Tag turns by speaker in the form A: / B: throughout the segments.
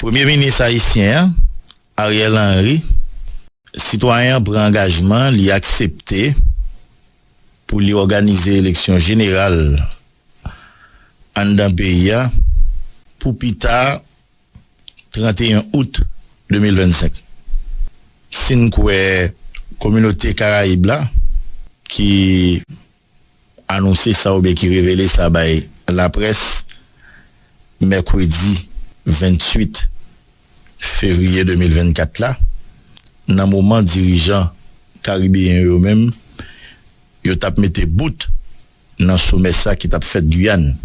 A: Premye minis ayisyen an, Ariel Henry, sitwayen an pran angajman li aksepte pou li òganize eleksyon jeneral anndan peyi a pou pi ta 31 out 2025. Si n kwè kominote Karayib la ki. anonse sa oubyen ki revele sa bay laprès mèkredi 28 fevriye 2024 la nan moman dirijan karibeyen yo menm yo tap mete bout nan somè sa ki tap fèt Guyane.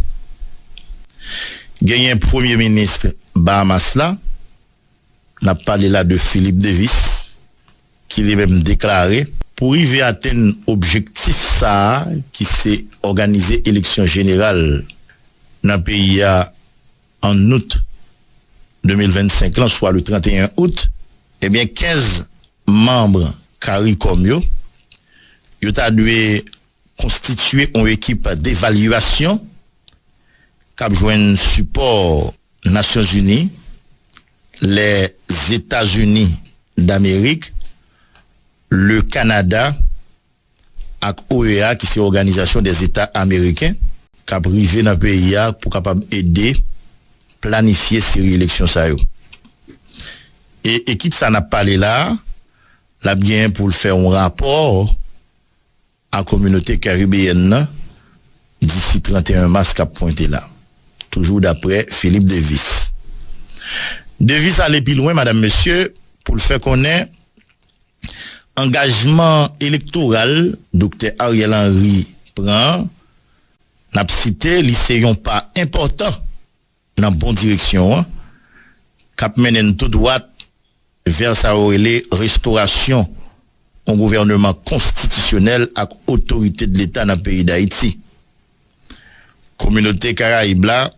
A: Genyen premye minis Bahamas la. N ap pale la de Philip Davis ki li menm deklare. Pou rive atenn objektif sa a ki se òganize eleksyon jeneral nan peyi a ann out 2025 lan swa le 31 out, ebyen 15 manm caricom yo, yo ta dwe. Konstitye on ekip devalyasyon k ap jwenn sipò Nasyonzini, Lèzetazini Damerik, Le Kanada ak OEA ki se Òganizasyon dè Zeta Ameriken, k ap rive nan peyi a pou kapab ede planifye seri eleksyon sa yo. E ekip sa n ap pale la a, l ap genyen pou l fè on rapò a kominote karibeyèn nan disi 31 mas k ap pwente la, toujou daprè Philippe Devis. Devis ale pi lwen madam mesye pou l fè konnen angajman elektoral Doktè Ariel Henry pran an, n ap site li se yon pa enpòtan nan bon direksyon an, k ap mennen n tou dwat vè sa yo rele restorasyon yon gouvèneman konstitisyonèl ak otorite dleta nan peyi Dayiti. Kominote Karayib la,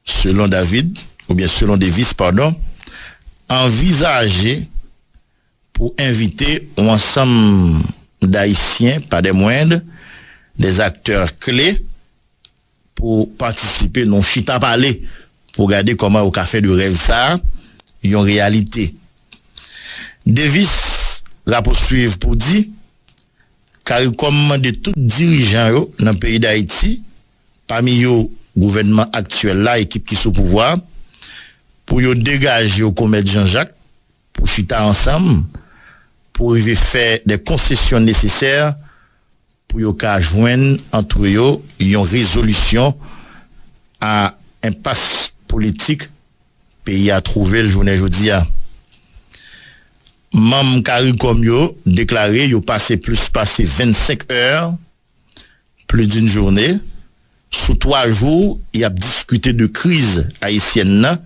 A: selon David, oubyen selon Davis, padon, anvizaje pou envite yon ansanm Dayisyen, pa dè mwendr, dè aktè kle, pou patisipe nan yon chita pale pou gade kòman yo ka fè de rèv sa yon reyalite. Davis rapousuiv pou di, Caricom mande tout dirijan yo nan peyi Dayiti, pami yo gouvènman aktyèl la, ekip ki sou pouvwa, pou yo degaje yo kon mèt Janjak pou chita ansanm pou rive fè de konsesyon nesesè, pou yo ka jwenn antre yo yon rezolisyon a enpas politik peyi a twouve l jounen jodi a. Manm caricom yo deklare yo pase plis pase 25 è, pli di n journe, sou 3 jou y ap diskite de kriz ayisyèn nan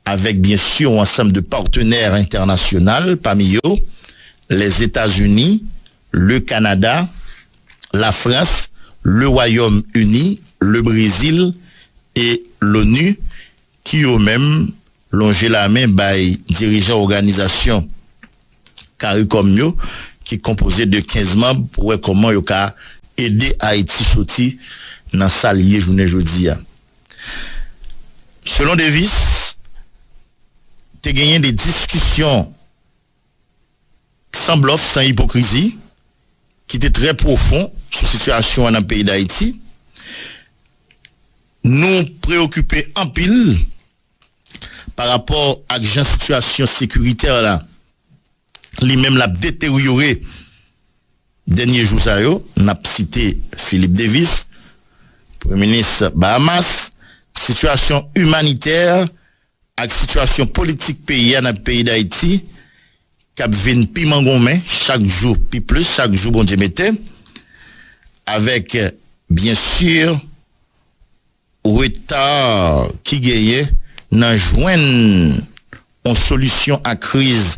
A: avèk byen si yon ansanm de patenè entènasyonal pami yo Lèzetazini, Le Kanada, Lafrans, Le Wayòm Ini, Le Brezil e L'ONU ki yo menm lonje lamen bay dirijan oganizasyon caricom yo ki konpoze de 15 manb pou wè kòman yo ka ede Ayiti soti nan sa li ye jounen jodi a. Selon Davis, te genyen de diskisyon. San blòf, san ipokrizi, ki te trè pwofon sou sitiyasyon an nan peyi Dayiti, nou preyokipe anpil pa rapò ak jan sitiyasyon sekiritè la li menm lap deteryore dènye jou sa yo, nap site Philip Davis, Premye Minis Bahamas, sitiyasyon imanitè Ak sitiyasyon politik peyi a nan peyi Dayiti k ap vin pi mangonmen chak jou pi plis chak jou Bondye mete, avèk byen si reta ki genyen nan jwenn on solisyon a kriz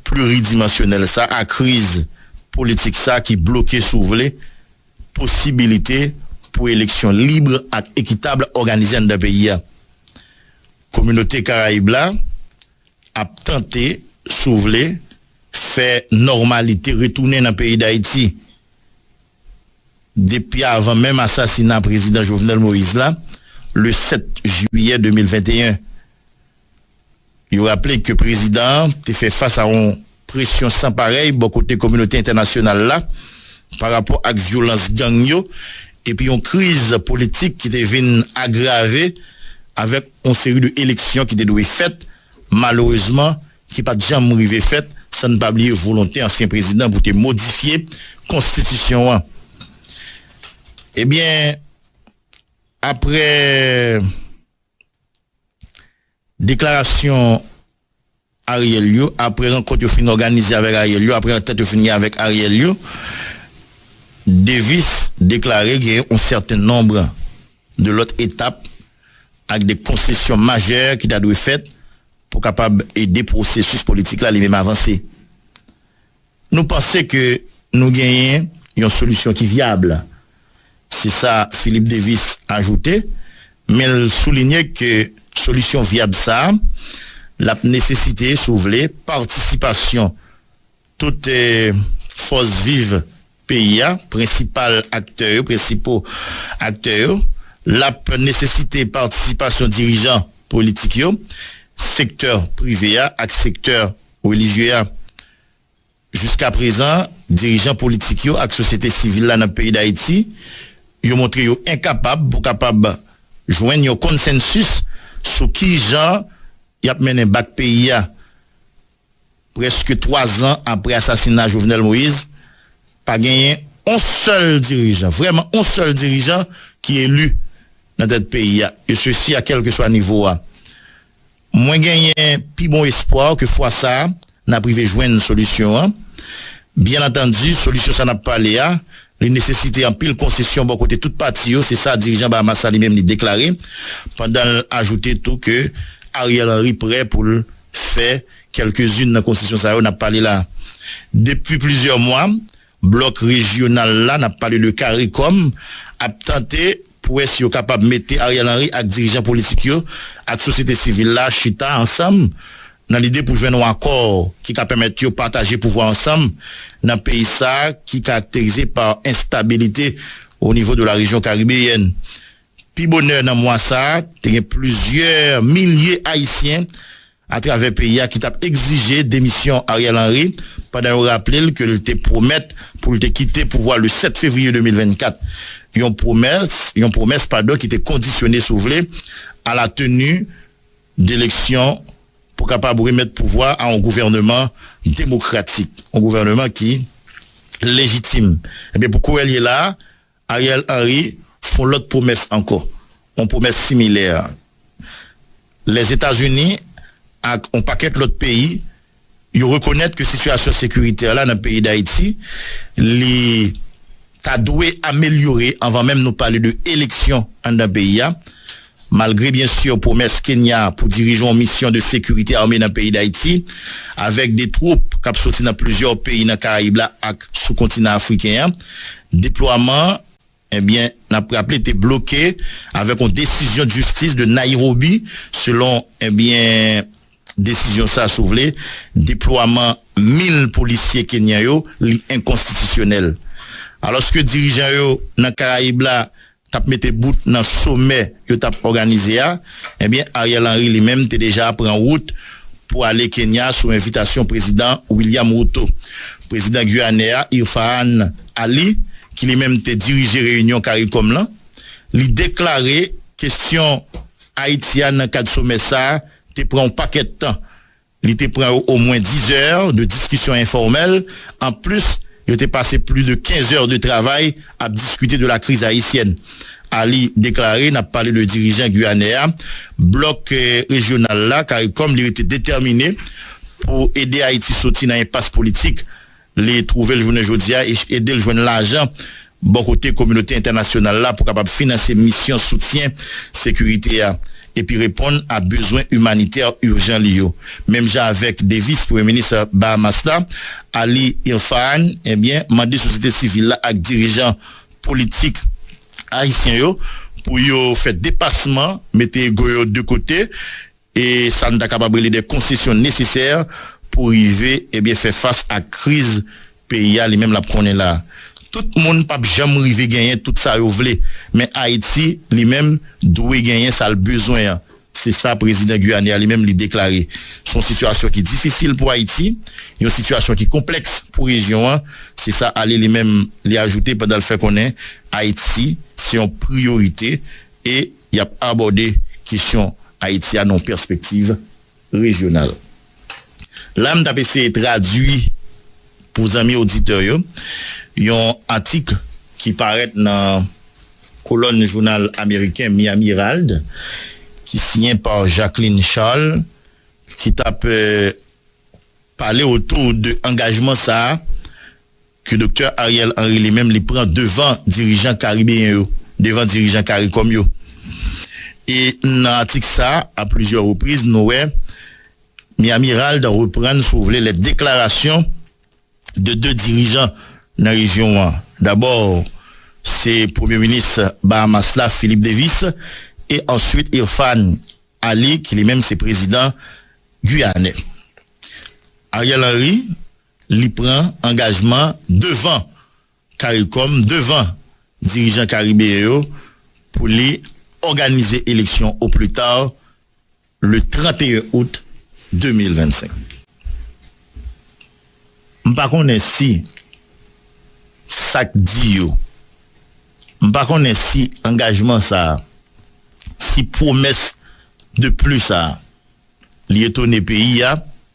A: pliridimansyonèl sa a, kriz politik sa a ki bloke si w vle, posibilite pou eleksyon lib ak ekitab òganize anndan peyi a. Kominote Karayib la ap tante, si w vle, fè nòmalite retounen nan peyi Dayiti. Depi avan menm asasina Prezidan Jovenel Moïse la, le 7 jiyè 2021, Yo raple ke prezidan an te fè fas a yon presyon san parèy bò kote kominote entènasyonal la pa rapò ak vyolans gang yo epi yon kriz politik ki te vin agrave avèk yon seri de eleksyon ki te dwe fèt malerezman ki pat janm rive fèt san n pa bliye volonte ansyen prezidan pou te modifye konstitisyon an. Ebyen aprè. Deklarasyon Ariel yo apre rankont yo fin òganize avèk Ariel yo apre antant yo fin gen avèk Ariel yo, Davis deklare gen yon sèten nonb de lòt etap ak de konsesyon majè ki ta dwe fèt pou kapab ede pwosesis politik la li menm avanse. Nou panse ke nou genyen yon solisyon ki vyab, se sa Philip Davis ajoute, men l soulinye ke solisyon vyab sa l ap nesesite, si w vle, patisipasyon tout fòs viv peyi a, prensipal aktè yo, prensipaux aktè yo, l ap nesesite patisipasyon dirijan politik yo, sektè prive a ak sektè relijye a. Jiska prezan, dirijan politik yo ak sosyete sivil la nan peyi Dayiti, yo montre yo enkapab pou kapab jwenn yon konsensis sou ki jan y ap mennen bak peyi a. Prèske 3 zan aprè asasina Jovenel Moïse, pa genyen on sèl dirijan, vrèman on sèl dirijan ki eli nan tèt peyi a, e sesi a kèlkeswa nivo a. Mwen genyen pi bon espwa ke fwa sa a, n ap rive jwenn solisyon an. Byennantandi, solisyon sa n ap pale a, Li nesesite anpil konsesyon bò kote tout pati yo, se sa dirijan Bahamas la li menm li deklare, pandan l ajoute tou ke Ariel Henry prè pou l fè kèlkezin nan konsesyon sa yo n ap pale la. Depi plizyè mwa, blòk rejyonal la, n ap pale de caricom, ap tante pwès yo kapab mete Ariel Henry ak dirijan politik yo ak sosyete sivil la chita ansanm nan lide pou jwenn yon akò ki ka pèmèt yo pataje pouvwa ansanm nan peyi sa ki karakterize pa enstabilite o nivo de la rejyon karibeyèn. Pi bonè nan mwa sa, te gen plizyè milye Ayisyen atravè peyi a ki tap egzije demisyon Ariel Henry pandan yo raple l ke l te pwomèt pou l te kite pouvwa le 7 fevriye 2024, yon pwomès yon pwomès padon ki te kondisyone si w vle a la teni deleksyon pou kapab remèt pouvwa a yon gouvèneman demokratik, yon gouvèneman ki lejitim. Ebyen pou kouwè l ye la a. Ariel Henry fon lòt pwomès ankò, on pwomès similè. Lèzetazini ak on pakèt lòt peyi, yo rekonèt ke sitiyasyon sekiritè la nan peyi Dayiti, li ta dwe amelyore anvan menm nou pale de eleksyon anndan peyi a. Malgre byen sur pwomès Kenya pou dirije yon misyon de sekirite ame nan peyi Dayiti, avèk de twoup kap soti nan plizyè peyi nan Karayib la ak sou kontinan Afriken an, deplwaman an, ebyen nap raple te bloke avèk yon desizyon d'justis de Nairobi selon ebyen desizyon sa si w vle deplwaman 1000 polisye Kenyan yo li enkonstitisyonèl. Alòske dirijan yo nan Karayib la tap mete bout nan somè yo tap òganize a, ebyen Ariel Henry li menm te deja pran wout pou ale Kenya sou envitasyon Prezidan William Ruto. Prezidan Guyanè a Irfaan Ali ki li menm te dirije reyinyon caricom lan, li deklare kestyon Ayiti a nan kad somè sa te pran yon pakèt tan Li te pran yo omwen 10 zè de diskisyon enfòmèl, anplis yo te pase plis de 15 zè de travay ap diskite de la kriz ayisyèn. Ali deklare, Nap pale de dirijan Guyanè a, blòk rejyonal la, caricom, li rete detèmine pou ede Ayiti soti nan enpas politik. li twouve l jounen jodi a e ede l jwenn lajan bò kote kominote entènasyonal la pou kapab finanse misyon soutyen sekirite a epi reponn a bezwen imanitè urjan li yo. Menm jan avèk Davis, premye minis Bahamas la, Ali Irfahan, ebyen, mande sosyete sivil la ak dirijan politik ayisyen yo pou yo fè depasman, mete ego yo de kote, e sa n ta kapab rele de konsesyon nesesè pou rive ebyen fè fas ak kriz peyi a li menm l ap konnen la. Tout moun p ap janm rive genyen tout sa yo vle, men Ayiti li menm dwe genyen sa l bezwen an, se sa prezidan guyane a li menm li deklare. S on sitiyasyon ki difisil pou Ayiti, yon sitiyasyon ki konplèks pou rejyon an, se sa ale li menm li ajoute pandan l fè konnen Ayiti se yon priyorite. e y ap abòde kesyon Ayiti a nan yon pèspektiv rejyonal. La a m t ap eseye tradui pou zanmi oditè yo yon atik ki parèt nan kolòn jounal ameriken Miami Herald ki siyen pa Jacqueline Charles ki t ap pale otou de angajman sa a Ke Doktè Ariel Henry li menm li pran devan dirijan karibeyen yo, devan dirijan caricom yo. E nan atik sa, a plizyè repriz nou wè Mi Amirald reprann si w vle lè deklarasyon de 2 dirijan nan rejyon an. Dabò se premye minis Bahamas la Philip Davis e answit Irfaan Ali ki li menm se prezidan Guyane. Ariel Henry. li pran angajman devan caricom, devan dirijan karibeyen yo pou li òganize eleksyon au plus tard le 31 août 2025. M pa konnen si sa k di yo, m pa konnen si angajman sa a, si pwomès de plus sa a li etone peyi a,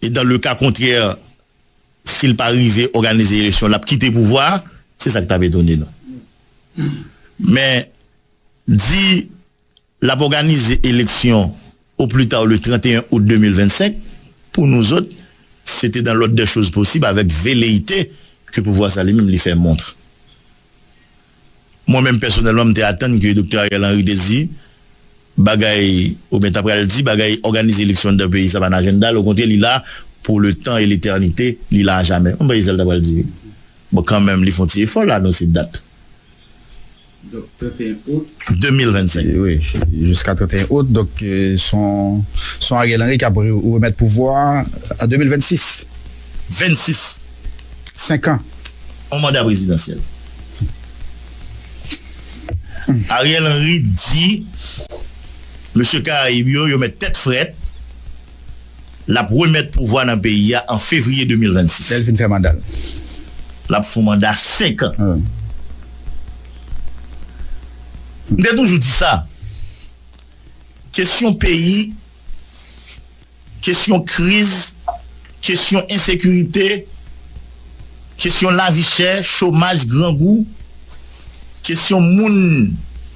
A: E dan le ka kontrè, si l pa rive òganize eleksyon, l ap kite pouvwa a. Se sa k t ap etone nou. Men, di l ap òganize eleksyon o pli ta le 31 out 2025, pou nouzòt, se te dan lòd dè choz posib avèk veleyite ke pouvwa sa li menm li fè montre. Mwen menm pèsonèlman m te atann ke Doktè Ariel Henry te di bagay oubyen ta pral di bagay òganize eleksyon anndan peyi sa pa nan ajenda l okontrè li la pou le tan e letènite li la ajamè m panse se sa l ta pral di wi bon kanmenm li fon ti efò l anonse dat 31 out 2025 wi
B: jiska 31 out donk son Ariel Henry k ap remèt pouvwa a an 2026 26 senkan yon manda
A: prezidansyèl. Ariel Henry di mesye karayib yo yo mèt tèt frèt lap remèt pouvwa nan peyi a an fevriye 2026. Lèl fin fè mandal.
B: Lap
A: fon manda 5 an. M te toujou di sa. Kesyon peyi Kesyon kriz, kesyon ensekirite, kesyon lavi chè, chomaj, grangou, kesyon moun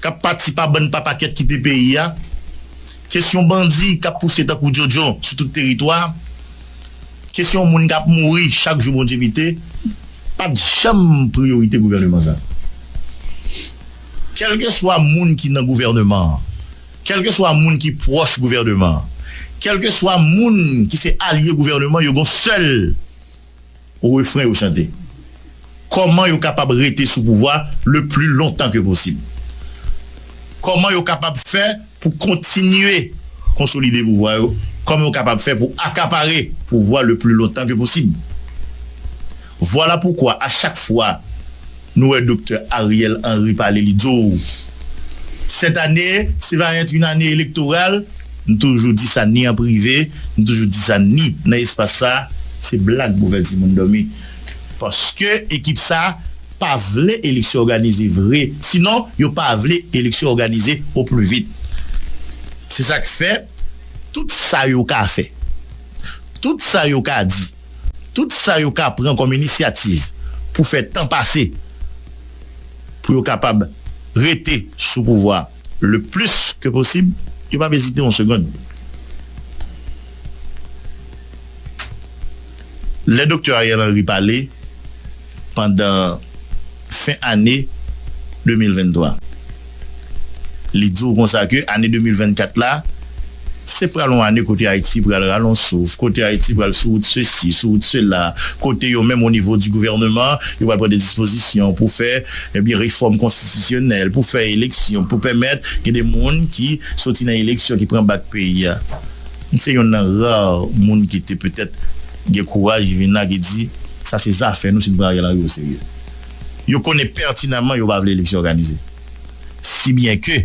A: k ap pati pa bann pa pakèt kite peyi a, kesyon bandi k ap pouse tankou djodjo sou tout teritwa, kesyon moun k ap mouri chak jou Bondye mete, pa t janm priyorite gouvèneman sa a. Kèlkeswa moun ki nan gouvèneman an, Kèlkeswa moun ki pwòch gouvèneman an, kèlkeswa moun ki se alye gouvèneman yo gon sèl refren yo chante, Kòman yo kapab rete sou pouvwa le pli lontan ke posib? Kòman yo kapab fè pou kontinye konsolide pouvwa yo? Kòman yo kapab fè pou akapare pouvwa le pli lontan ke posib? Vwala poukwa a chak fwa Nou wè Doktè Ariel Henry pale li di w sèt ane se va èt yn ane elektoral, m toujou di sa ni an prive, m toujou di sa ni nan espas sa, se blag pou fè timoun dòmi paske ekip sa pa vle eleksyon òganize vre sinon yo pa vle eleksyon òganize o pli vit se sak fè tout sa yo ka fè tout sa yo ka di. tout sa yo ka pran kòm inisyativ pou fè tan pase pou yo kapab rete sou pouvwa a le plis ke posib, yo pap ezite yon segond. Lè Doktè Ariel Henry pale. pandan fen ane 2023. Li di w konsa ke ane 2024 la, se pral yon ane kote Ayiti pral ralon souf, kote Ayiti pral sou wout sesi, sou wout sela, kote yo menm o nivo di gouvèneman, yo pral pran de dispozisyon pou fè ebyen refòm konstitisyonèl, pou fè eleksyon, pou pèmèt gen de moun ki soti nan eleksyon ki pran bak peyi a. M se yonn nan rare moun ki te petèt. Gen kouraj ki vin la ki di sa se zafè nou si nou pran Ariel Henry oserye. Yo konnen pètinanman yo pa vle eleksyon òganize. Si byen ke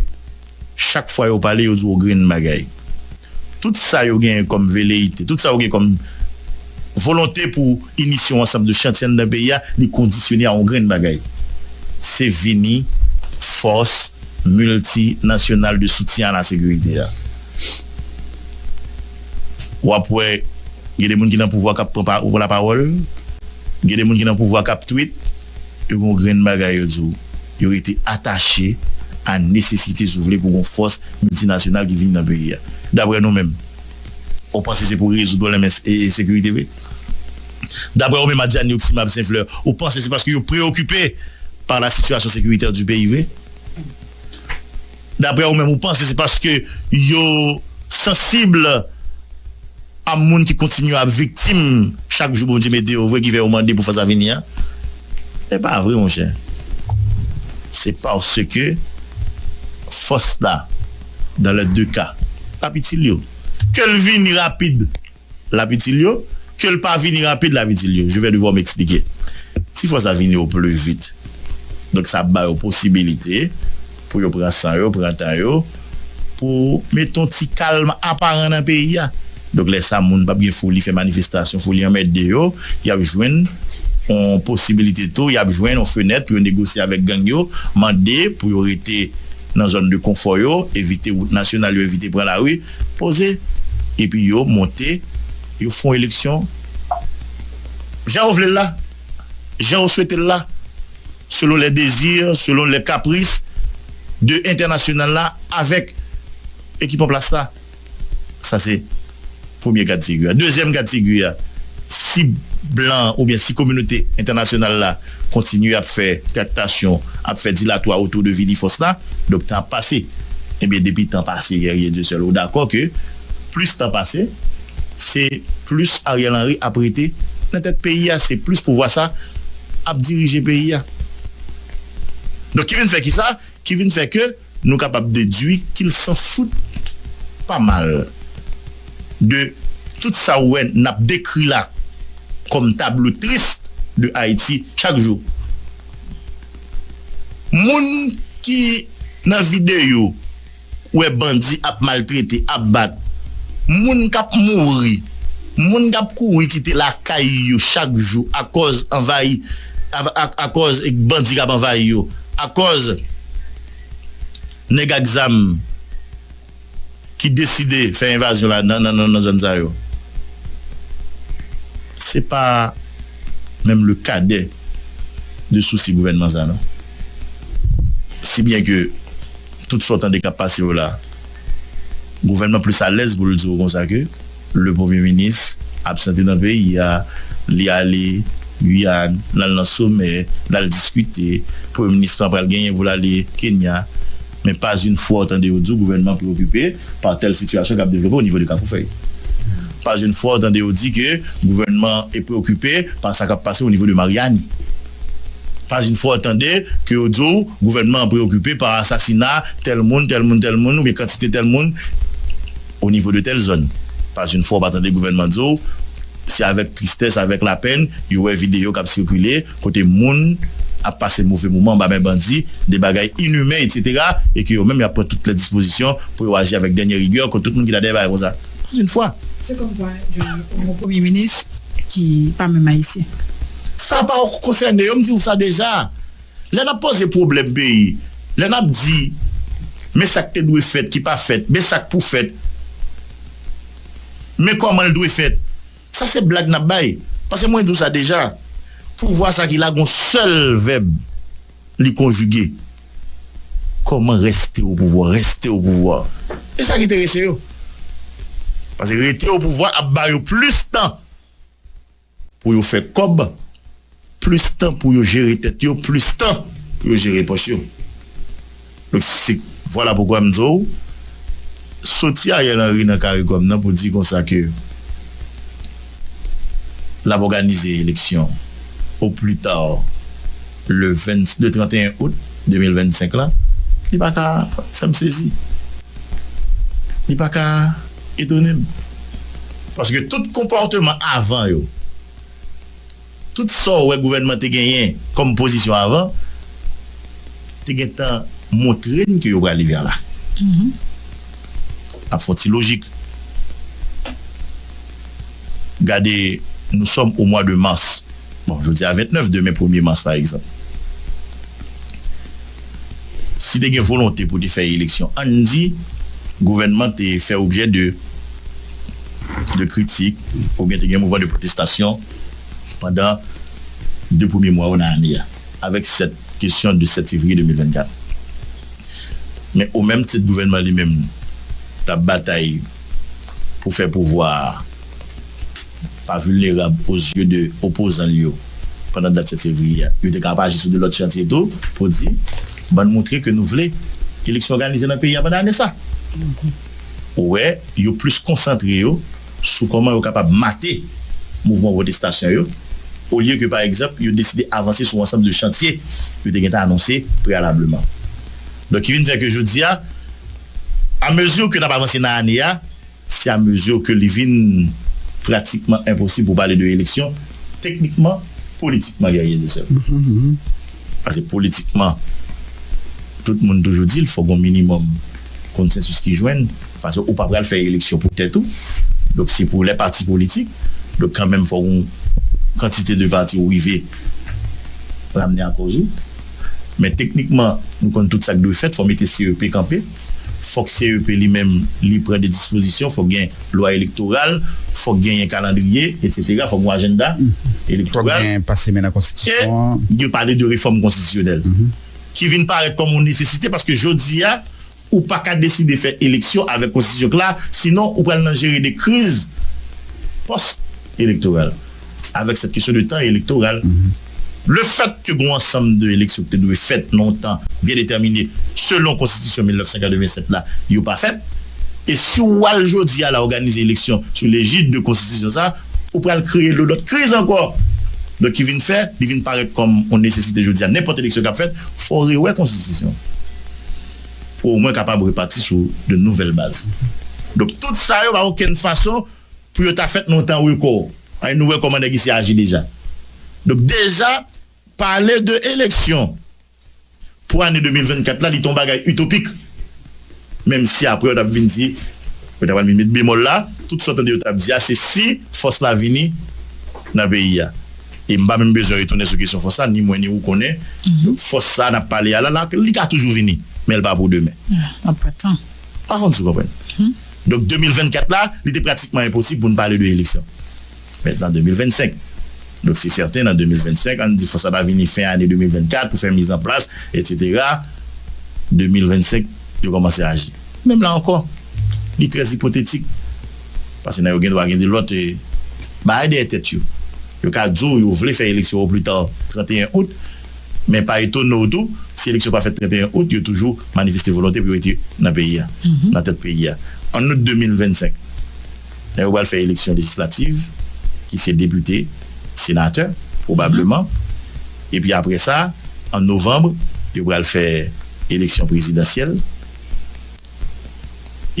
A: chak fwa yo pale yo di w yon grenn bagay. Tout sa yo genyen kòm veleyite, tout sa yo genyen kòm volonte pou inisyon ansanm de chantiy anndan peyi a, li kondisyone a yon grenn bagay. Se vini fòs miltinasyonal de soutyen a lasekirite a. wap wè gen de moun ki nan pouvwa kap pran la pawòl, gen de moun ki nan pouvwa kap tweet, yo gen yon grenn bagay yo di w, yo rete atache a nesesite si w vle pou gen yon fòs miltinasyonal ki vini nan peyi a. Daprè nou menm, ou panse se pou rezoud pwoblèm ensekirite vre? Daprè ou menm Adyani Oxy Mab St Fleur, ou panse se paske yo preyokipe pa la sitiyasyon sekiritè di peyi vre? Daprè ou menm ou panse se paske yo sansib a moun ki kontinye ap viktim chak jou Bondye mete yo vre ki fè yo mande pou fas avini a? Se pa vre monchè. Se paske fòs la, dans les deux cas, p ap itil yo. Ke l vini rapid. Lap itil yo, ke l pa vini rapid lap itil yo, je vais devoir m'expliquer. Ti fwa sa vini yo plus vite, donk sa ap ba yo posibilite pou yo pran san yo, pran tan yo, pou mete yon ti kalm aparan nan peyi a. Donk lè sa moun pap gen foli fè manifestasyon, foli anmède yo, yap jwenn yon posibilite tou, yap jwenn yon fenèt pou yo negosye avèk gang yo, mande pou yo rete nan zòn de konfò yo, evite wout nasyonal yo, evite pran lari. Poze epi yo monte yo fon eleksyon jan yo vle l la, jan yo swete l la, selon lè dezi, selon lè kapris de entènasyonal la avèk ekip an plas la. Sa se premye gad figi a. Dezyèm gad figi a, si blan oubyen si kominote entènasyonal la. kontinye ap fè traktasyon, ap fè dilatwa otou de vini fòs la, donk tan ap pase. Ebyen depi tan pase Guerrier Dieu seul ou dakò ke plis tan pase se plis Ariel Henry ap rete nan tèt peyi a, se plis pouvwa sa ap dirije peyi a. Donk ki vin fè kisa? Ki vin fè ke. Nou kapab dedwi kil san fout pa mal de tout sa ou wè nap dekri la kòm tablo tris de Ayiti chak jou. Moun ki nan videyo wè bandi ap maltrete, ap bat, moun kap mouri, moun kap kouri kite lakay yo chak jou akòz anvayi, Akòz bandi k ap anvayi yo. Akòz nèg ak zam ki deside fè envazyon la nan zòn sa yo. Se pa menm le kadè de sousi gouvènman sa non. Si byen ke tout sa w tande k ap pase yo la, gouvènman plis alèz pou l di w konsa ke. Le premye minis absente nan peyi a, li ale Guyane, lal nan somè, lal diskite, premye minis lan pral genyen pou l ale Kenya, men pas une fwa ou tande yo di w gouvènman preokupe par tèl sitiyasyon kap devlope au nivo de Kafoufèy. Pas une fwa ou tande yo di ke gouvènman e preokupe par sa kap pase au nivo de Mariani. Pas une fwa ou tande ke yo di w gouvènman an preokupe par asasina tèl moun, tèl moun, tèl moun, oubyen kantite tèl moun. O nivo de tèl zòn, pas yn fwa w pa tande gouvènman di w, se avèk tristès, avèk lapenn yo wè videyo k ap sikile kote moun ap pase move moman anba men bandi, de bagay inimen etsetera e ke yo menm y ap pran tout lè dispozisyon pou yo aji avèk dènyè rigè kont tout moun ki ta dèyè bagay konsa. Pas yn fwa! Se kòm kwa
C: jwenn yon premye minis ki pa menm ayisyen. Sa pa w
A: konsène yo, m di w sa deja. Lè n ap poze pwoblèm peyi, lè n ap di men sa k te dwe fèt ki pa fèt, men sa k pou fèt, men kòman l dwe fèt, sa se blag n ap bay. Pase mwen di w sa deja, pouvwa sa ki la gon sèl vèb li konjige, Kòman rèste o pouvwa, rèste o pouvwa. E sa ki terese yo. Pase rete o pouvwa ap ba yo plis tan. Pou yo fè kòb, plis tan pou yo jere tèt yo, plis tan pou yo jere pòch yo. Donk se vwala poukwa m di w, soti Ariel Henry nan caricom nan pou di konsa ke l ap òganize eleksyon au plus tard, le 22 31 out 2025 la li pa ka fè m sezi li pa ka etone m paske tout konpòteman avan yo tout sa w wè gouvènman te genyen kòm pozisyon avan te gen tan montre n ke yo prale vè la ap fon ti lojik. Gade, nou sòm o mwa de mas. Bon, jodi a 29, demen premye mas pa egzanp. Si te gen volonte pou te fè eleksyon, ann di gouvènman te fè objè de de kritik oubyen te gen mouvman de pwotestasyon pandan de premye mwa yo nan ane a avèk sèt kesyon de 7 fevriye 2024. Men o menm tit gouvènman li menm t ap batay. pou fè pouvwa a pa vilnerab o zye de opozan l yo pandan dat 7 fevriye a. Yo te ka ap aji sou de lòt chantye tou pou di, bann moutre ke nou vle eleksyon òganize nan peyi a pandan ane sa. Ou wè, yo plis konsantre yo sou kòman yo kapab mate mouvman pwotestasyon yo olye ke pa egzanp yo deside avanse sou ansanm de chantye yo te gentan anonse preyalableman. Donk ki vin fè ke jodi a, A mezi ke n ap avanse nan ane a, se a mezi ke li vin pratikman enposib pou pale de eleksyon, teknikman, politikman Guerrier de Sèvres. Pase politikman, tout moun toujou di l fò gon minimòm konsensis ki jwenn, pase ou pa pral fè eleksyon pou tèt ou, donk se pou lè pati politik, donk kanmenm fò gon kantite de pati ou rive ramne a kòz ou. Men teknikman nou konn tout sa k dwe fèt, fò mete CEP kanpe, fòk CEP li menm li pran de dispozisyon, fòk gen lwa elektoral, fòk genyen kalandriye etsetera, fòk gon ajennda elektoral, e
B: yo pale de refòm
A: konstitisyonèl ki vin parèt kòm yon nesesite paske jodi a. Ou pa ka deside fè eleksyon avèk konstitisyon k la, sinon ou pral nan jere de kriz pòs elektoral avèk sèt kesyon de tan elektoral. Le fèt ke gon ansanm de eleksyon k te dwe fèt nan yon tan byen detèmine selon konstitisyon 1987 la, yo pa fèt, e si ou al jodi a la òganize eleksyon sou lejid de konstitisyon sa, ou pral kreye de lòt kriz ankò. Donk ki vin fè, li vin parèt kòm yon nesesite jodi a nenpòt eleksyon k ap fèt, fò rewè konstitisyon. pou omwen kapab repati sou de nouvèl baz. Donk tout sa yo pa okenn fason pou yo ta fèt nan yon tan rekò. Paske nou wè kòman nèg isi aji deja. Donk deja pale de eleksyon pou ane 2024 la li te yon bagay itopik. Menm si aprè yo t ap vin di, yo ta pral vin met bemòl la, tout sa w tande yo t ap di a se si fòs la vini nan peyi a. E m pa menm bezwen retounen sou kesyon fòs la, ni mwen ni ou konnen fòs sa a n ap pale a la, li ka toujou vini, men l pa pou demen. Mwen pa tan.
C: Pa konn si w konprann.
A: Donk 2024 la, li te pratikman enposib pou n pale de eleksyon. Mentnan 2025. Donk se sèten nan 2025, an n di fòs la ta vini fen ane 2024 pou fè mizanplas, etsetera, 2025 yo kòmanse aji. Menm la ankò, li trè ipotetik. Pase nan yo gen dwa gen de lòt bagay dèyè tèt yo. Yo ka di w yo vle fè eleksyon o pli ta 31 out, men pa etone w tou si eleksyon pa fèt 31 out, yo toujou manifeste volonte pou yo rete nan peyi a, nan tèt peyi a. An out 2025, lè yo pral fè eleksyon lejislativ, ki se depite, senatè, pwobableman, epi apre sa, an novanm, yo pral fè eleksyon prezidansyèl,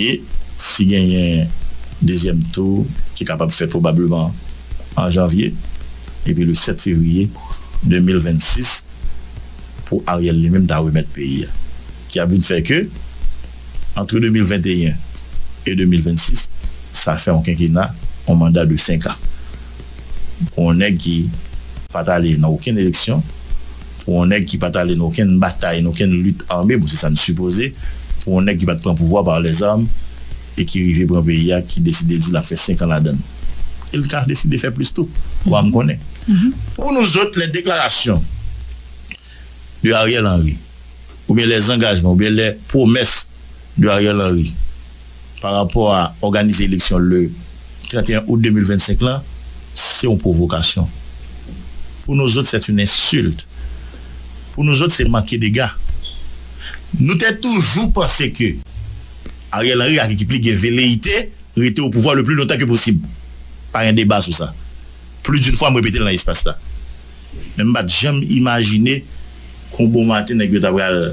A: E si genyen dezyèm tou ki kapab fèt pwobableman an janvye epi le 7 fevriye 2026 pou Ariel li menm ta remèt peyi a ki ap vin fè ke antre 2021 e 2026 sa fè yon kenkena yon manda de 5 an pou yon nèg ki pat ale nan okenn eleksyon Pou yon nèg ki pat ale nan okenn batay, nan okenn lit ame, bon se sa n sipoze, pou yon nèg ki pat pran pouvwa par les armes e ki rive pran peyi a, ki deside di l ap fè 5 an ladan l. E l ka deside fè plis tou. Ou pa m konnen. Pou nou zot, lè deklarasyon de Ariel Henry, oubyen lè zangajman, oubyen lè pwomès de Ariel Henry, Pa rapò a òganize eleksyon le 31 out 2025 lan, se yon pwovokasyon. Pou nous autres c'est une insulte. Pou nous autres se manke dega. Nou te toujou panse ke Ariel Henry ak ekip li gen veleite rete o pouvwa le pli lontan ke posib. Pa gen deba sou sa. Pli d'une fwa m repete l nan espas la. Men m pa t janm imajine ke yon bon maten nèg yo ta pral.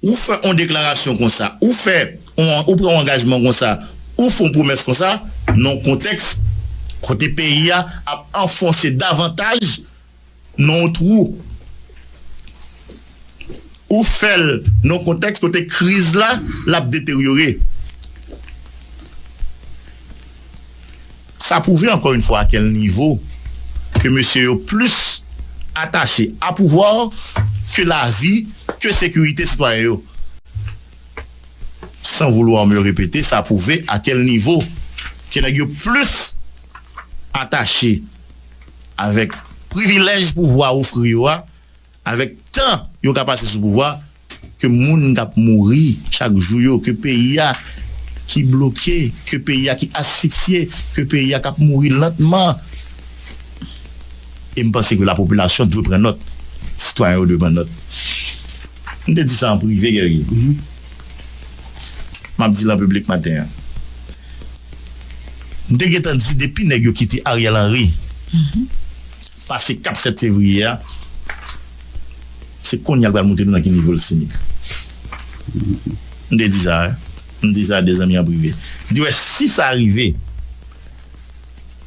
A: Ou fè on deklarasyon konsa, ou fè on, ou pran on angajman konsa, ou f'on pwomès konsa, nan on kontèks kote peyi a ap anfonse davantaj nan on twou. Ou fè l nan on kontèks kote kriz la, l'ap deteryore. Sa pwouve ankò yn fwa a kèl nivo ke mesye yo plis atache a pouvwa ke lavi, ke sekirite sitwayen yo. San vouloir me repeter sa pwouve a kèl nivo ke nèg yo plis atache avèk privilèj pouvwa ofri yo a, Avèk tan yo ka pase sou pouvwa, ke moun k ap mouri chak jou yo, ke peyi a ki bloke, ke peyi a ki asfiksye, ke peyi a k ap mouri lantman. E m panse ke lapopilasyon dwe pran nòt, sitwayen yo dwe pran nòt. M te di sa an prive, Guerrier. M ap di l an piblik maten an. M te gentan di depi nèg yo kite Ariel Henry, Pase kap 7 fevriye a se konnya l pral moute nou nan ki nivo l sinik. M te di sa wi. M di sa a 2 zanmi an prive. M di wè si sa rive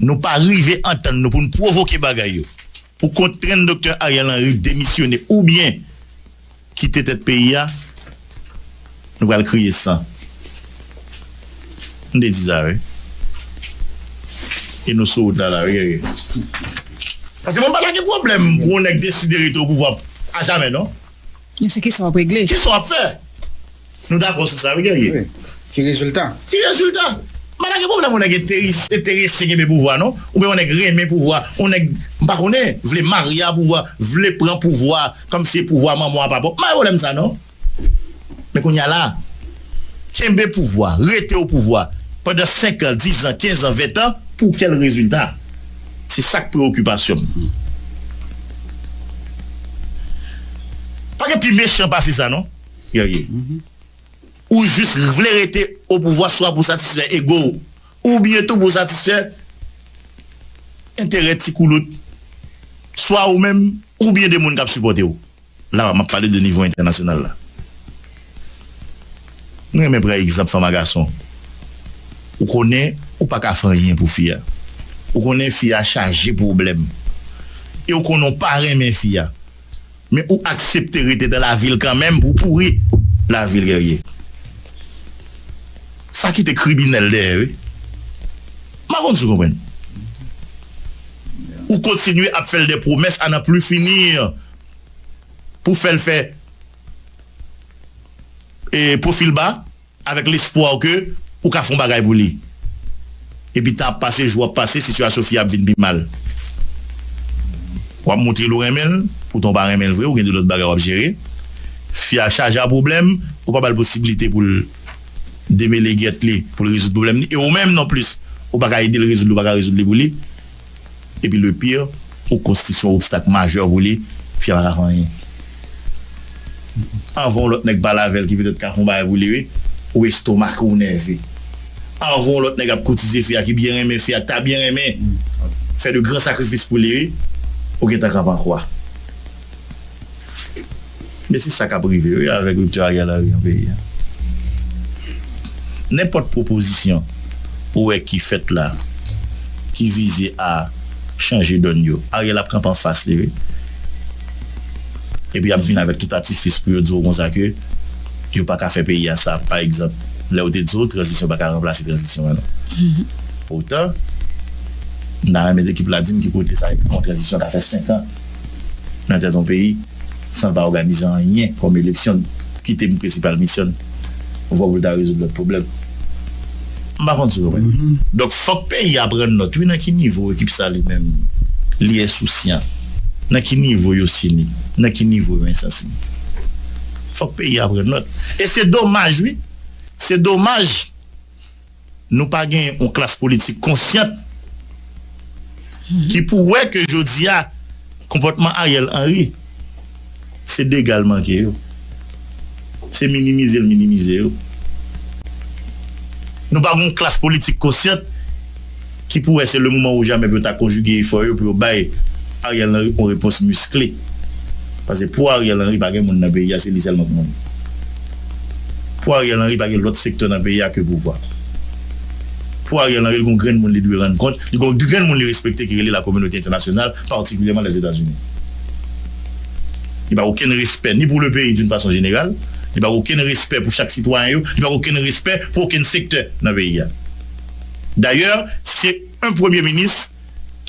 A: nou pa rive antann nou pou n pwovoke bagay yo pou kontrèn Doktè Ariel Henry demisyone oubyen Kite tèt peyi a Nou pral kriye san M te di sa wi E nou sou wout la la wi gègè Paske mwen pa ta gen pwoblèm pou yon nèg deside rete opouvwa ajamè non Men se kesyon
C: wap regle. Kesyon wap fè.
A: Nou dakò sou sa wi Guerrier. Wi. Ki rezilta?
B: Ki rezilta?
A: Mwen pa gen pwoblèm yon nèg enterese kenbe pouvwa non. Oubyen yon nèg renmen pouvwa. Yon nèg, m pa konnen, vle marye a pouvwa, vle pran pouvwa kòm si e pouvwa manman w a, papa w. M pa gen pwoblèm sa non. Men kounye a la, kenbe pouvwa, rete o pouvwa pandan senkan, dizan, kenzan, ventan, pou kèl rezilta? Se sa k prewokipasyon m. Pa gen pi mechan pase sa non. Ou jis vle rete opouvwa swa pou satisfè ego w oubyen tou pou satisfè enterè ti koulout swa ou menm oubyen de moun k ap sipòte w. La m ap pale de nivo entènasyonal la. M renmen pran egzanp fanm a gason. Ou konnen ou pa ka fè anyen pou fi a. Ou konnen fi a chaje pwoblèm. E ou konnen ou pa renmen fi a. Men ou aksepte rete dan lavil kanmenm pou w pouri lavil Guerrier. Sa kite kribinèl dèyè wi. M pa konn si w konprann. Ou kontinye ap fè l dè pwomès a nan pli fini pou fè l fè e pwofil ba. Avèk lespwa ke ou ka fè yon bagay pou li. Epi tan ap pase, jou ap pase, sitiyasyon fi a ap vin pi mal. Wap montre l ou renmen l, poutan ou pa renmen l vre, ou gen de lòt bagay wap jere. Fi a chaje a pwoblèm, ou pa ba l posibilite pou l demele gèt li, pou l rezoud pwoblèm li. E ou menm nonplis, ou pa ka ede l rezoud li, ou pa ka rezoud li pou li. Epi le pire ou konstitye yon obstak majè pou li, fi a pa ka fè anyen anvan yon lòt nèg pale avèl ki petèt ka fè yon bagay pou li wi, ou estomake ou nève anvan yon lòt nèg ap koutize fi a ki byen renmen fi a ki ta byen renmen fè de gran sakrifis pou li wi, ou gentan krapankwa. Men se sa kap rive wi avèk rupture Ariel Henry nan peyi a. Nenpòt pwopozisyon ou wè ki fèt la ki vize a chanje dòn yo, Ariel ap kanpe anfas li wi. Epi yap vin avèk tout atifis pou yo di w konsa ke yo paka fè peyi a sa pa egzanp lè yo te di w tranzisyon paka ranplase tranzisyon an non. Poutan m ta renmen ekip la di m ki kote sa ekri yon tranzisyon ka fè 5 an. nan tèt yon peyi san l pa òganize anyen kòm eleksyon ki te prensipal misyon l oswa pou l ta rezoud lòt pwoblèm. M pa konn si w konprann. Donk fòk peyi a pran nòt wi nan ki nivo ekip sa li menm li ensousyan, nan ki nivo yo sinik, nan ki nivo yo ensansib. Fòk peyi a pran nòt. E se domaj wi, se domaj. Nou pa gen yon klas politik konsyant ki pou wè ke jodi a konpòtman Ariel Henry se dega l manke yo, se minimize l minimize yo. Nou pa gen yon klas politik konsyant. ki pou wè se le moman ou jamè pou yo ta konjige efò yo pou yo bay Ariel Henry on repons miskle. Pase pou Ariel Henry pa gen moun nan peyi a se li sèlman k moun. Pou Ariel Henry pa gen lòt sektè nan peyi a ke pouvwa. Pou Ariel Henry li gon grenn moun li dwe rann kont, li gon grenn moun li respekte ki rele la kominote entènasyonal patikilyèman Lèzetazini. Li pa gen okenn respè ni pou le peyi d'une fason jeneral, li pa gen okenn respè pou chak sitwayen yo, li pa gen okenn respè pou okenn sektè nan peyi a. Dayè se yn premye minis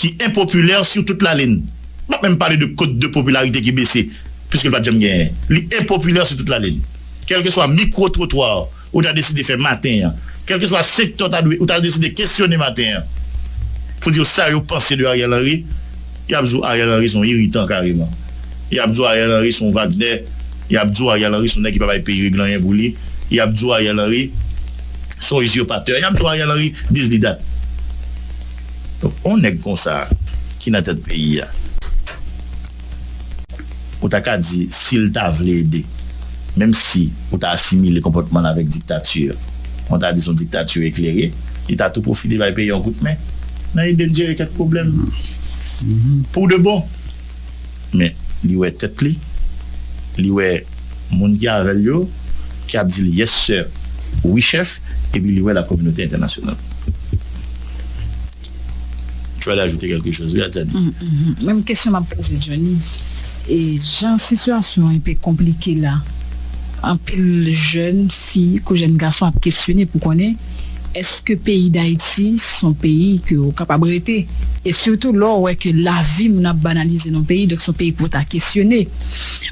A: ki enpopilè su tout lalin. M pap menm pale de kot de popilarite ki bese, puiske l pat janm genyen. Li enpopilè su tout lalin. Kèlkeswa mikwo twotwa ou ta deside fè maten an, kèlkeswa sektè w ta dwe, ou ta deside kesyone maten an pou di yo sa yo panse de Ariel Henry, Yap di w Ariel Henry son iritan kareman. Yap di w Ariel Henry son vagnè. Yap di w Ariel Henry son nèg ki pa bay peyi regle anyen pou li. Yap di w Ariel Henry son usurpateur. Yap di w Ariel Henry dis li dat. Donk on nèg konsa ki nan tèt peyi a. Ou ta ka di, si l ta vle ede. Menm si ou ta asimile konpòtman l avèk diktati, mwen ta di s on diktati eklere, li ta tou pwofite bay peyi yon kout men nan ede l jere kèk pwoblèm pou de bon. Men, li wè tèt li, li wè moun ki avè l yo, ki ap di l yes sir, wi chèf, epi li wè lakominote entènasyonal. Tu as d'ajouter quelque chose wi Adjani. Mph menm kesyon map
C: poze Djony e jan sitiyasyon an enpe konplike la anpil jèn fi kou jèn gason ap kesyone pou konnen eske peyi dayiti son peyi ke ou kapab rete e sitou lè ou wè ke lavi moun ap banalize nan peyi donk son peyi ke ou ta kesyone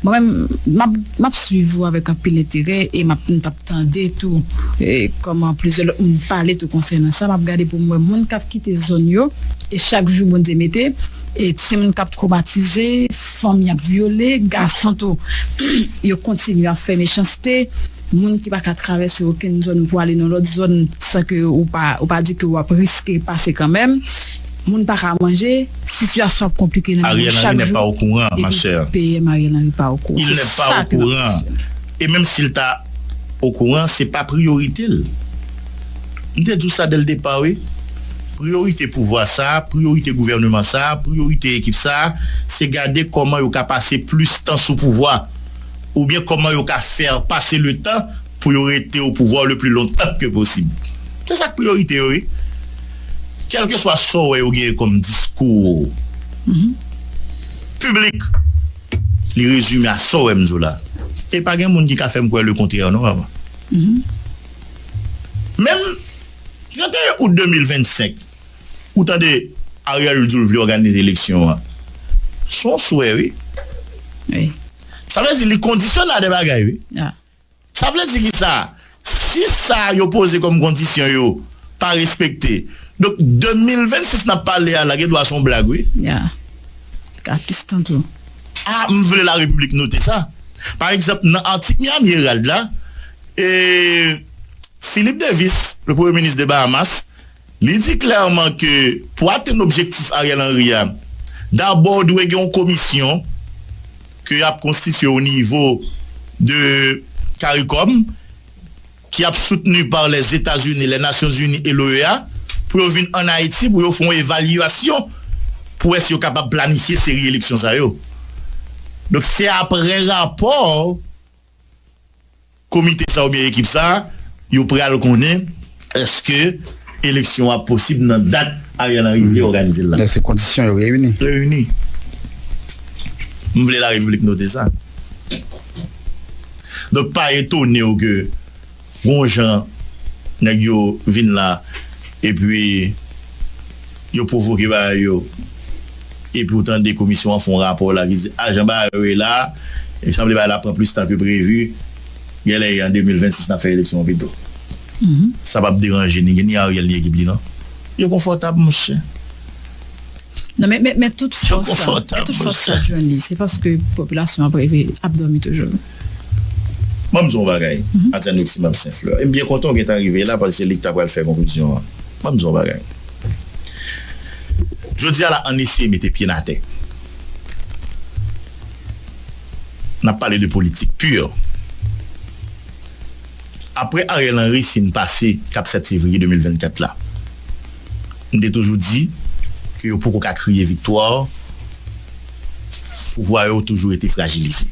C: mwen menm map map swiv ou avèk anpil enterè e map mtap tande tou kòman plizyè lòt moun pale tou konsènan sa map gade poum wè moun kap kite zòn yo e chak jou Bondye mete e timoun kap twomatize fanm yap vyole gason tou yo kontinye ap fè mechanste moun ki paka travèse okenn zòn pou ale nan lòt zòn san ke ou pa di ke wap riske pase kanmèm moun paka manje sitiyasyon ap konplike nan mitan yo chak jou
A: epi PM Ariel Henry pa
C: okouran se sa ke map
A: kesyone. E menm si l ta okouran, se pa priyorite l. M te di w sa dèl depa wi. Priyorite pouvwa sa, priyorite gouvèneman sa, priyorite ekip sa, se gade kòman yo ka pase plis tan sou pouvwa, oubyen kòman yo ka fè pase le tan pou yo rete o pouvwa le pli lontan ke posib. Se sa k priyorite yo wi. Kèlkeswa sa w wè yo genyen kòm diskou piblik. Li rezime a sa w wè m di w la. E pa gen moun ki ka fè m kwè lekontrè non mama. Menm 31 out 2025 ou tande Ariel di w vle òganize eleksyon an. S on swè wi.
C: Sa vle di
A: li kondisyone a de bagay wi. Sa
C: vle di ki
A: sa? Si sa yo poze kòm kondisyon yo pa respekte, donk 2026 nap pale a la gen dwa se yon blag wi. Ya. Li
C: ka plis tan tou. A M vle
A: la Repiblik note sa. Pa egzanp nan atik Miami Herald la, e Philip Davis, le premye minis de Bahamas, Li di klèman ke pou atenn objektif Ariel Henry a, dabò dwe gen yon komisyon ke y ap konstitye o nivo de caricom ki ap soutni par Lèzetazini, Lènasyonzini e l'OEA pou yo vin ann Ayiti pou yo fè yon evalyasyon pou wè si yo kapab planifye seri eleksyon sa yo. Donk se aprè rapò Komite sa oubyen ekip sa yo pral konnen èske eleksyon ap posib nan dat Ariel Henry vle òganize l la. Èske kondisyon yo reyini?
B: Reyini.
A: M vle larepiblik note sa. Donk pa etone w ke. Bon jan nèg yo vin la epi yo pwovoke bagay yo epi ou tande komisyon an fè yon rapò la ki di a jan bagay yo ye la sanble bagay la ap pran plis tan ke previ gèlè e an 2026 nap fè eleksyon an pito sa pap deranje ni Ariel ni ekip li non yo konfòtab monchè
C: yo konfòtab monchè.
A: Banm di w yon bagay, Adjanoximab St-Fleur, e m byen kontan w gentan rive la paske se li ki ta pral fè konklizyon an. Banm di w yon bagay. Jodi a la ann eseye mete pye n atè. N ap pale de politik pur. Aprè Ariel Henry fin pase kap 7 fevriye 2024 la, m te toujou di ke yo poko ka kriye viktwa. Pouvwa yo toujou rete frajilize.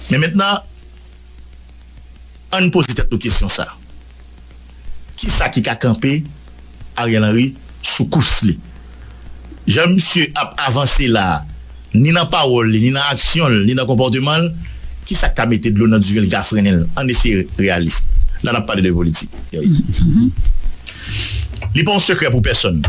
A: Men mentnan, ann poze tèt nou kesyon sa, Ki sa ki ka kanpe Ariel Henry sou kous li? Jan misye ap avanse la a, ni nan pawòl li, ni nan aksyon l, ni nan konpòteman l, ki sa k ka mete dlo nan diven l, ki ka frennen l? Ann eseye reyalis. La n ap pale de politik. Li pa yon sekrè pou pèsonn.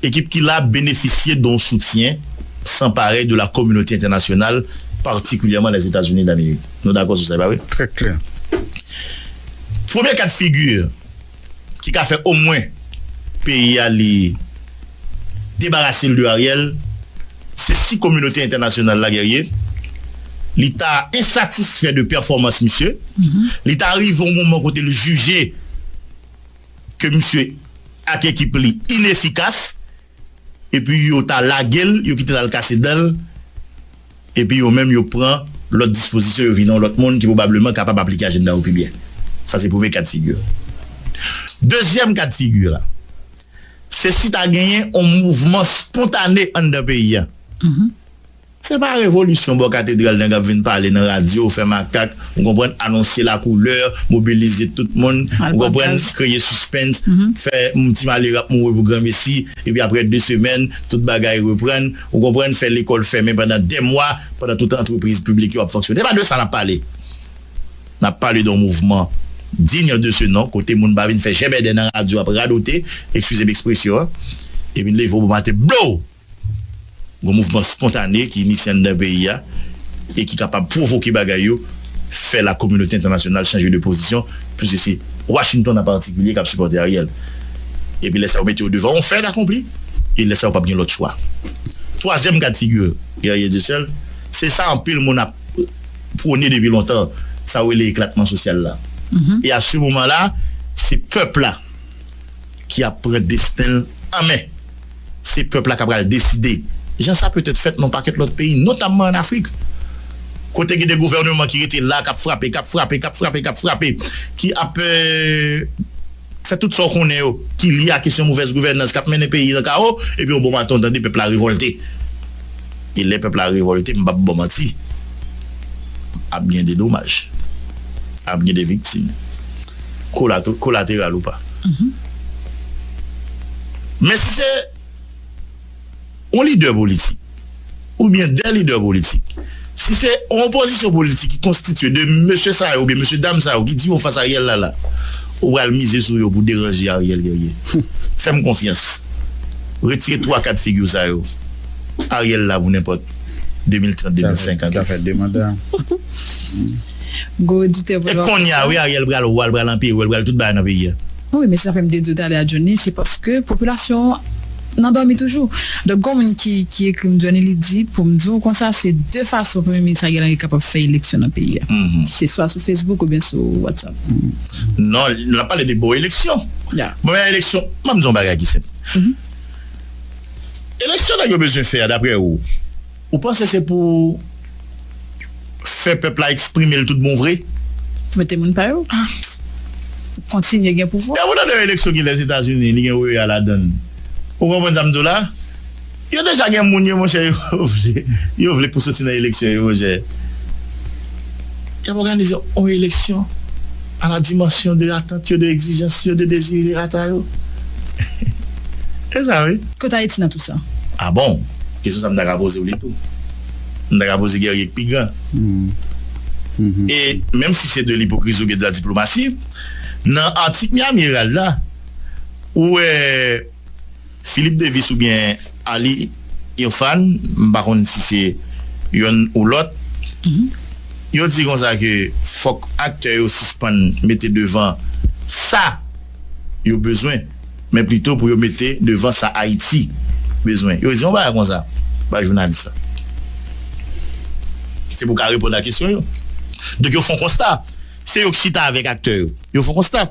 A: Ekip ki la benefisye don soutyen san parèy de la kominote entènasyonal, patikilyèman Lèzetazini Damerik. Nou dakò sou sa, e pa vre? Trè klè. Premye ka d'figi ki ka fè omwen peyi a li debarase l de Ariel, se si kominote entènasyonal la, Guerrier, li ta ensatisfè de pèfòmans misye, li ta rive yon moman kote l jije, ke misye ak ekip li inefikas epi yo ta lage l, yo kite l al kase dan l epi yo menm yo pran lòt dispozisyon, yo vini yon lòt moun ki pwobableman kapab aplike ajenda yo pi byen. Sa se premye ka de figi a. Dezyèm ka de figi a, se si ta genyen yon mouvman spontane anndan peyi a. Se pa revolisyon bò katedral nèg ap vin pale nan radyo, fè makak, ou konprann, anonse la koulè, mobilize tout moun, ou konprann, kreye sispens, fè yon ti malere ap mouri pou granmesi, epi aprè 2 semèn, tout bagay reprann, ou konprann, fè lekòl fèmen pandan 2 mwa, pandan tout antrepriz piblik yo ap fonksyone. Se pa de sa n ap pale. N ap pale don mouvman digne de ce nom kote moun pa vin fè jèbèdè nan radyo ap radote, ekskize m ekspresyon an, epi leve w bon maten, blow! Gon mouvman spontane ki inisye anndan peyi a e ki kapab pwovoke bagay yo, fè la kominote entènasyonal chanje de pozisyon, pwiske se Washington an patikilye kap sipòte Ariel. Epi lè sa yo mete yo devan yon fèt akonpli e lè sa yo pap gen lòt chwa. Twazyèm kad figi Guerrier Dieuseul, se sa anpil moun ap pwone depi lontan, sa yo rele eklatman sosyal la. E a se moman la, se pèp la ki ap pran desten l an men. Se pèp la k apral deside, jan sa petèt fèt nan yon pakèt lòt peyi, notamman ann Afrik, kote gen de gouvèneman ki rete la, k ap frape, k ap frape, k ap frape, k ap frape, ki ap fè tout sa w konnen yo ki lye a kesyon movèz gouvènans k ap mennen peyi nan kawo, epi yon bon maten w tande pèp la revòlte. E lè pèp la revòlte, m p ap ba w manti, ap gen de domaj, ap gen de viktim, kolateral ou pa. Men si se yon lidè politik oubyen de lidè politik, si se yon opozisyon politik ki konstitye de mesye sa yo oubyen mesye dam sa yo ki di yo fas Ariel la la, ou pral mize sou yo pou deranje Ariel Guerrier? Fè m konfyans, retire twa kat figi w sa yo. Ariel la pou nenpòt 2030 2050.
B: Gwo
C: oditè vre wap fè sa. E konnya wi Ariel
A: pral wa l pral anpere l pral tout bagay nan peyi a. Wi men se sa fèm te
C: diw talè a Johnny se paske popilasyon an nan dòmi toujou donk gon moun ki ekrim Johnny li di poum diw konsa se de fason premye minis Ariel Henry kapab fè eleksyon nan peyi a se swa sou Facebook oubyen sou WhatsApp. Non
A: lap pale de bon eleksyon bon eleksyon map diw yon bagay ki senp. Eleksyon nèg yo bezwen fè a daprè ou, ou panse se pou fè pèp la eksprime l tout bon vre? Pou mete moun pa
C: yo kontinye gen pouvwa. Depi w tande yon eleksyon ki
A: Lèzetazini li gen OEA ladan l. Ou konprann sa m di w la? Yo deja gen moun yo monchè yo vle pou soti nan eleksyon yo monchè. Y ap òganize yon eleksyon a la dimansyon de atant yo, de egzijans yo, de dezirerata yo. Se sa wi. Kot Ayiti nan tou sa?
C: A bon!
A: Kesyon sa m ta ka poze w li tou. M ta ka poze Guerrier k pi gran. E menm si se de lipokrizi oubyen de la diplomasi, nan atik Miami Herald la, ou wè. Philippe Davis oubyen Ali Irfan, m pa konn si se yonn ou lòt, yo di konsa ke fòk aktè yo sispann mete devan sa yo bezwen, men plito pou yo mete devan sa Ayiti bezwen. Yo di yon bagay konsa bay jounalis la. Se pou ka reponn a kesyon yo. Donk yo fon konsta. Se yo ki chita avèk aktè yo. Yo fon konsta.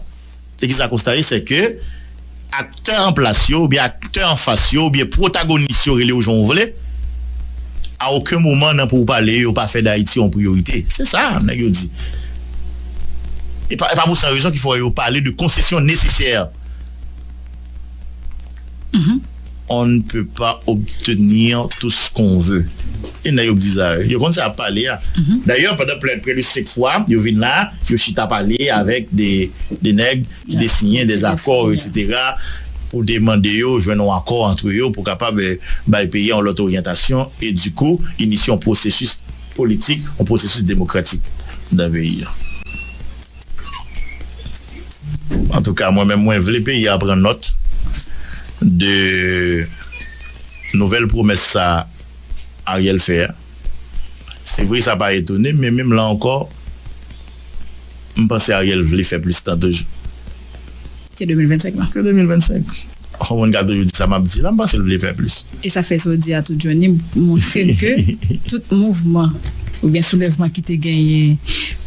A: Se kisa konsta ye se ke aktè an plas yo oubyen aktè an fas yo oubyen pwotagonis yo rele yo jan ou vle a oken moman nan pou ou pale yo pa fè dayiti yon priyorite se sa nèg yo di e pa pou san rezon ki fè yo pale de konsesyon nesesè. On ne peut pas obtenir tout ce qu'on veut e nèg yo k di sa yo, yo konn sa yap pale a dayè pandan plè près de 5 fwa yo vin la yo chita pale avèk de nèg ki te siyen des accords etc pou te mande yo jwenn on accord entre yo pou kapab bay peyi a on lòt oryantasyon e du kou inisye on processus politik on processus demokratik nan peyi a. Antouka mwen menm mwen vle peyi a pran nòt de nouvèl pwomès sa Ariel fè a. Se vre sa pa etone m men menm la ankò m panse Ariel vle fè plis tan toujou. Ke
C: 2025 lan. Ke 2025.
A: Yon moun ka toujou di sa map di la, m panse l vle fè plis. E sa fè sa w di a
C: tou Johnny montre m ke tout mouvman oubyen soulèvman ki te genyen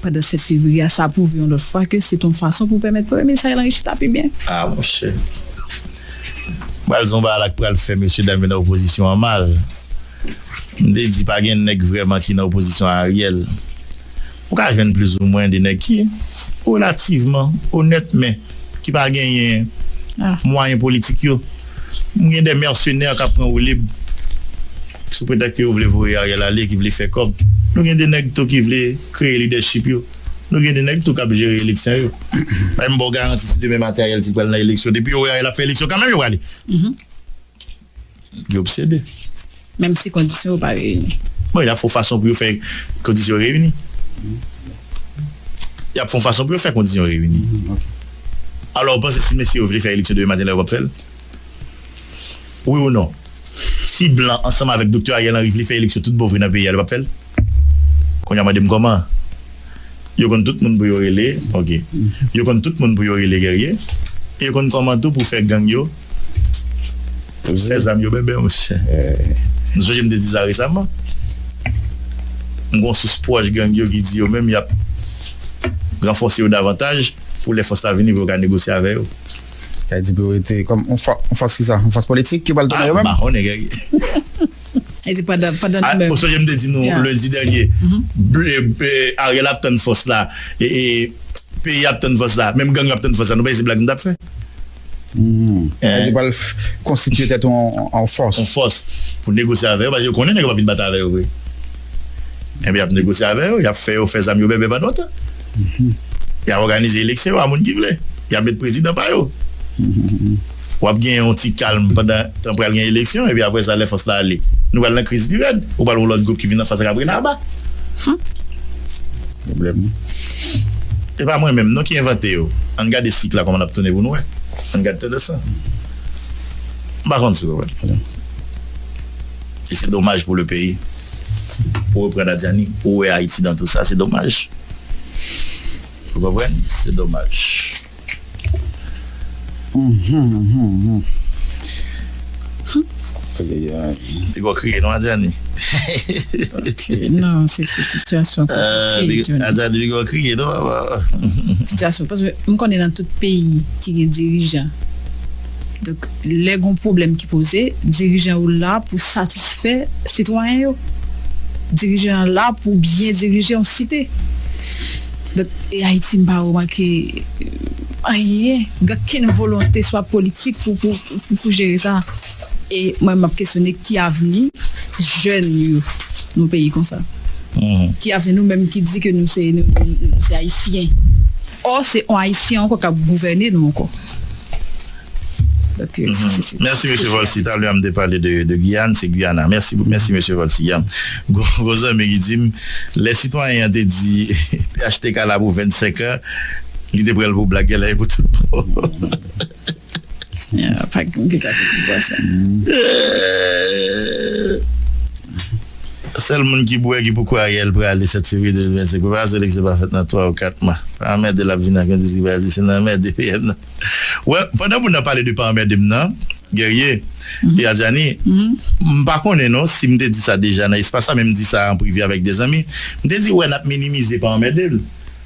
C: pandan 7 fevriye a, sa pwouve yon lòt fwa ke se te yon fason pou pèmèt Premye Minis Ariel Henry chita pi byen. A monchè.
A: Pral di yon bagay la k pral fè mesye dam yo nan opozisyon an mal. M te di pa gen nèg vrèman ki nan opozisyon a Ariel. Ou ka jwenn plizoumwen de nèg ki relativman onèt men ki pa genyen mwayen politik yo. M gen de mèsenè k ap pran woulib sou pretèks ke yo vle voye Ariel ale, ki vle fè kòb. Nou gen de nèg tou ki vle kreye lidèchip yo. Nou gen de nèg tou k ap jere eleksyon yo. Men m ba w garanti si demen maten Ariel t pral nan eleksyon, depi yo wè Ariel ap fè eleksyon kanmenm yo prale. Yo obsede. Menm si
C: kondisyon yo pa reyini. Bon, y ap fè yon fason
A: pou yo fè kondisyon yo reyini. Y ap fè yon fason pou yo fè kondisyon yo reyini. Alò, ou panse si mesye yo vle fè eleksyon demen maten la yo p ap fè l? Wi ou non? Si blan ansanm avèk Doktè Ariel Henry vle fè eleksyon tout bon vre nan peyi a, yo p ap fè l? Konya mande m kòman? Yo konn tout moun pou yo rele ok. Yo konn tout moun pou yo rele Guerrier e yo konn kòman tou pou fè gang yo fè zam yo bèbè monchè. M sonje m te di sa resaman. M gen yon sous pwòch gang yo ki di yo menm y ap ranfòse yo davantaj pou lè fòs la vini pou yo ka negosye avè yo. Sa vle di pou yo
B: rete kòm yon fòs kisa? Yon fòs politik ki pral tounen yo menm? M pa konnen Guerrier.
C: Ou sonje m te di nou
A: lendi dènye, Ariel ap tann fòs la, peyi a ap tann fòs la, menm gang yo ap tann fòs la, nou panse se blag m tap fè?
B: Yo pral konstitye tèt yo an fòs. An fòs pou
A: negosye avè yo, paske yo konnen nèg yo pap vin batay avè yo vre. Enben y ap negosye avè yo, y ap fè yo fè zam yo bèbè pandan yon tan. Y ap òganize eleksyon yo a moun ki vle. Y ap met prezidan pa yo. W ap gen yon ti kalm pandan tan pral gen eleksyon, epi apre sa lè fòs la ale, nou pral nan kriz pi rèd. Ou pral wè yon lòt gwoup ki vin anfas ak ap rele aba. Humm! Pwoblèm wi. Se pa mwen menm non ki envante yo. Ann gade sik la kòman l ap tounen pou nou wè. Ann gade tandans lan. M pa konn si w konprann. Alò. E se domaj pou le peyi. Pou reprann a Dyani, ou wè Ayiti dan tou sa. Se domaj. Ou konprann? Se domaj. Li poko kriye non Adjani. Ok nan
C: se sitiyasyon konplike.
A: Adjani li poko kriye non papa. Sitiyasyon
C: paske m konnen nan tout peyi ki gen dirijan donk lè gon pwoblèm ki poze dirijan yo la pou satisfè sitwayen yo dirijan an la pou byen dirije yon site. But e Haiti mpa remake anyen gen kenn volonte swa politik pou pou jere sa e mwen map kesyone ki avni jèn yo nou peyi konsa ki avni nou menm ki di ke nou se nou se ayisyen or se on ayisyen ankò kap gouvène nou ankò. Merci Mesye Volcy,
A: talè a m te pale de Guyane, se Guyana. Merci Mesye Volcy. Gon zanmi ki di m, lè sitwayen an te di phtk la pou 25 an, li te pran l pou blag, genlè e pou tout
C: bon.
A: Sèl moun ki bwè ki pou kwè Ariel prale 7 fevriye 2025. Preparasyon eleksyon pa fèt nan 3 ou 4 mwa. Pa anmède l ap vini ak yon diskriminasyon, se nan anmède PM nan. Well pandan moun nan pale de pa anmède m nan Guerrier et Adjani m pa konnen non si m te di sa deja nan espas la men m di sa an prive avèk 2 zanmi m te di wè nap minimize pa anmède l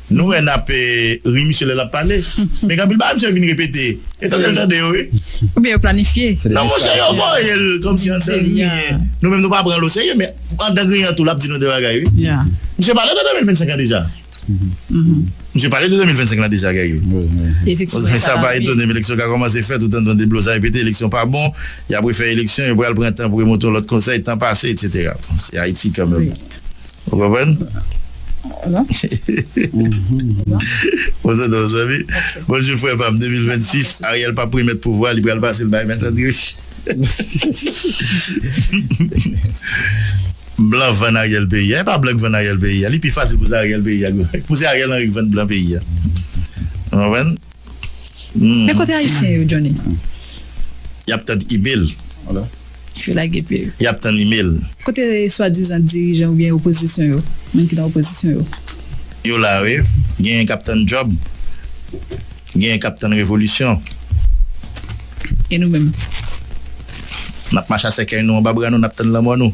A: nou wè nap ri misye lè lap pale men gen anpil bagay misye vin repete e tande l tande yo wi oubyen yo planifye
C: non monchè yo voye
A: l kòmsi andan griyen nou menm nou pa pran l oserye men andan griyen an tou lap di nou 2 bagay wi misye pale de 2025 an deja. Misye pale de 2025 la deja Guerrier. Efektivman sa
C: pa etone m
A: eleksyon ka kòmanse fèt ou tann ton deblozay pete eleksyon pa bon y ap refè eleksyon yo pral pran tan pou remonte yon lòt konsèy tan pase etc. Se Ayiti kanmenm ou konprann. Bon tande yon zanmi. Bonjou frè pa m 2026 Ariel pap remèt pouvwa li pral pase l bay mèt André Michel. Blan vann Ariel peyi a. E pa blan ki vann Ariel peyi a. Li pi fasil pou se Ariel peyi a. Pou se Ariel Henry ki vann blan peyi a. Ou konprann?
C: Men kote ayisyen yo Johnny?
A: Yap tann email.
C: Yo lage pye yo. Yap tann email.
A: Kote swadizan
C: dirijan oubyen opozisyon yo? Moun ki nan opozisyon yo? Yo la
A: wi. Genyen kap tann job. Genyen kap tann revolisyon. E nou menm? Nap mache a sèkèy nou anba
C: bra
A: nou nap tann lanmò nou.